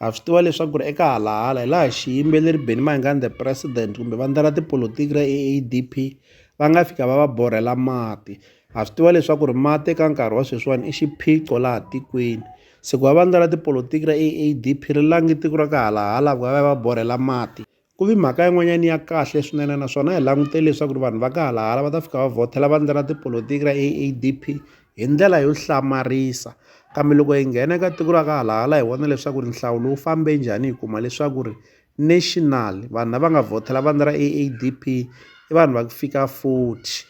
Ha swi tiva leswaku ri eka halahala hi laha xiyimbeleri Benny Mayengani the president kumbe vandla ra tipolotiki ra AADP va nga fika va va borhela mati. Ha swi tiva leswaku ri mati eka nkarhi wa sweswiwani i xiphiqo laha tikweni. Se ku va vandla ra tipolotiki ra AADP ri lange tiko ra ka halahala ku va va ya va borhela mati Ku vi mhaka yin'wanyana ya kahle swinene naswona hi langutele leswaku ri vanhu va ka halahala va ta fika va vhothela vandla ra tipolotiki ra AADP hi ndlela yo hlamarisa kambe loko hi nghena eka tiko ra ka halahala hi vona leswaku ri nhlawulo wu fambe njhani hi kuma leswaku ri national vanhu lava nga vhothela vandla ra AADP i vanhu va ku fika 40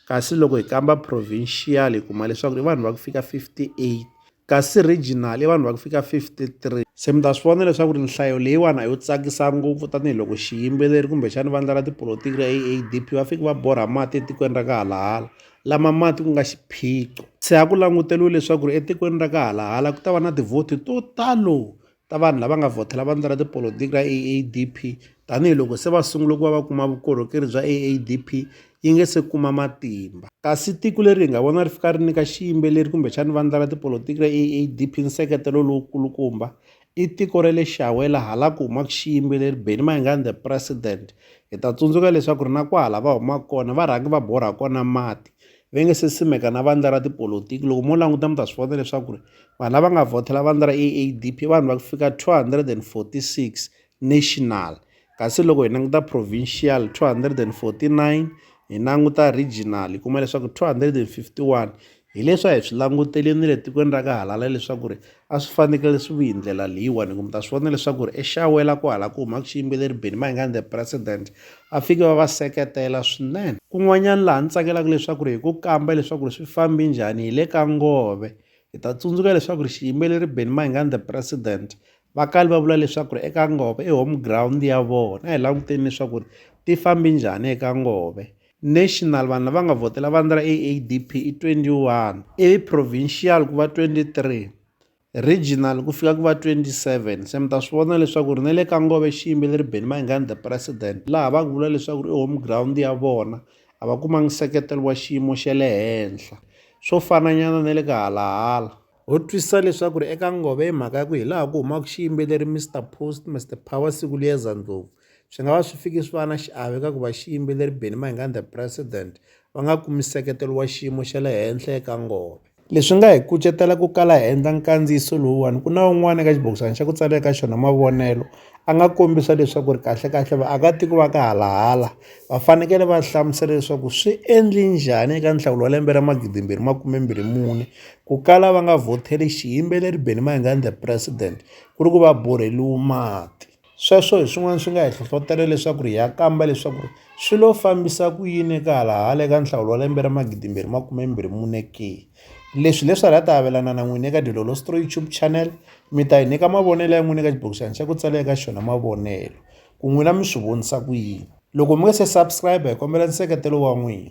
kasi loko hi kamba provincial hi kuma leswaku i vanhu va ku fika 58 kasi regional i vanhu va ku fika 53. Se mi ta swi vona leswaku ri nhlayo leyiwani a yo tsakisa ngopfu tanihiloko xiyimbeleri kumbexani vandla ra tipolotiki ra AADP va fiki va borha mati etikweni ra ka halahala lama mati ku nga xiphiqo se a ku languteriwe leswaku ri etikweni ra ka halahala ku ta va na tivhoti to talo ta vanhu lava nga vhotela vandla ra tipolotiki ra AADP tanihiloko se va sungule ku va va kuma vukorhokeri bya AADP yi nge se kuma matimba. Kasi tiko leri hi nga vona ri fika ri nyika xiyimbeleri kumbexani vandla ra tipolotiki ra AADP nseketelo lowu kulukumba i tiko ra le Xawela hala ku humaka xiyimbeleri Benny Mayengani the President. Hi ta tsundzuka leswaku ri na kwahala va humaka kona va rhangi va borha kona mati va nge se simeka na vandla ra tipolotiki loko mo languta mi ta swi vona leswaku ri vanhu lava nga vhothela vandla ra AADP i vanhu va ku fika 246 national kasi loko hi languta provincial 249 hi languta regional hi kuma leswaku 251 hi leswi a hi swi languteleni le tikweni ra ka halala leswaku ri a swi fanekele swi vi hi ndlela leyiwani kumbe ta swi vona leswaku ri exawela ku hala ku humaka xiyimbeleri Benny Mayengani the president va fike va va seketela swinene kun'wanyana laha ni tsakelaka leswaku ri hi ku kamba leswaku ri swi fambi njhani hi le ka ngove hi ta tsundzuka leswaku ri xiyimbeleri Benny Mayengani the president va kale va vula leswaku ri eka ngove i home ground ya vona a hi languteni leswaku ri ti fambi njhani eka ngove National vanhu lava nga vhotela vandla ra AADP i 21 ivi provincial ku va 23 regional ku fika ku va 27 se mi ta swi vona leswaku ri na le ka ngove xi yimbeleri Benny Mayengani the president laha va ku vula leswaku ri i home ground ya vona a va kumangi nseketelo wa xiyimo xa le henhla swo fananyana na le ka halahala ho twisisa leswaku ri eka ngove hi mhaka ya ku hi laha ku humaka xiyimbeleri Mr Post Mr Power Sikuliyeza Ndlovu Swi nga va swi fikisiwa na xiave eka ku va xiyimbeleri Benny Mayengani the President va nga kumi nseketelo wa xiyimo xa le henhla eka ngoma. Leswi nga hi kucetela ku kala hi endla nkandziyiso lowuwani ku na un'wana eka xibokisana xa ku tsala eka xona mavonelo a nga kombisa leswaku ri kahlekahle vaakatiko va ka halahala va fanekele va hlamusela leswaku swi endle njhani eka nhlawulo wa lembe ra magidimbirhi makumembirhi mune ku kala va nga vhoteli xiyimbeleri Benny Mayengani the President ku ri ku va borheliwa mati. Sweswo hi swin'wana swi nga hi hlohlotela leswaku ri hi ya kamba leswaku ri swi lo fambisa ku yini eka hala hala eka nhlawulo wa lembe ra magidimbirhi makumembirhi mune ke. Leswi hi leswi hala ta avelana na n'wina eka Dilolostory YouTube channel mi ta hi nyika mavonelo ya n'wina eka xibokisana xa ku tsala eka xona mavonelo ku n'wina mi swi vonisa ku yini. Loko mi nga se subscribe hi kombela nseketelo wa n'wina.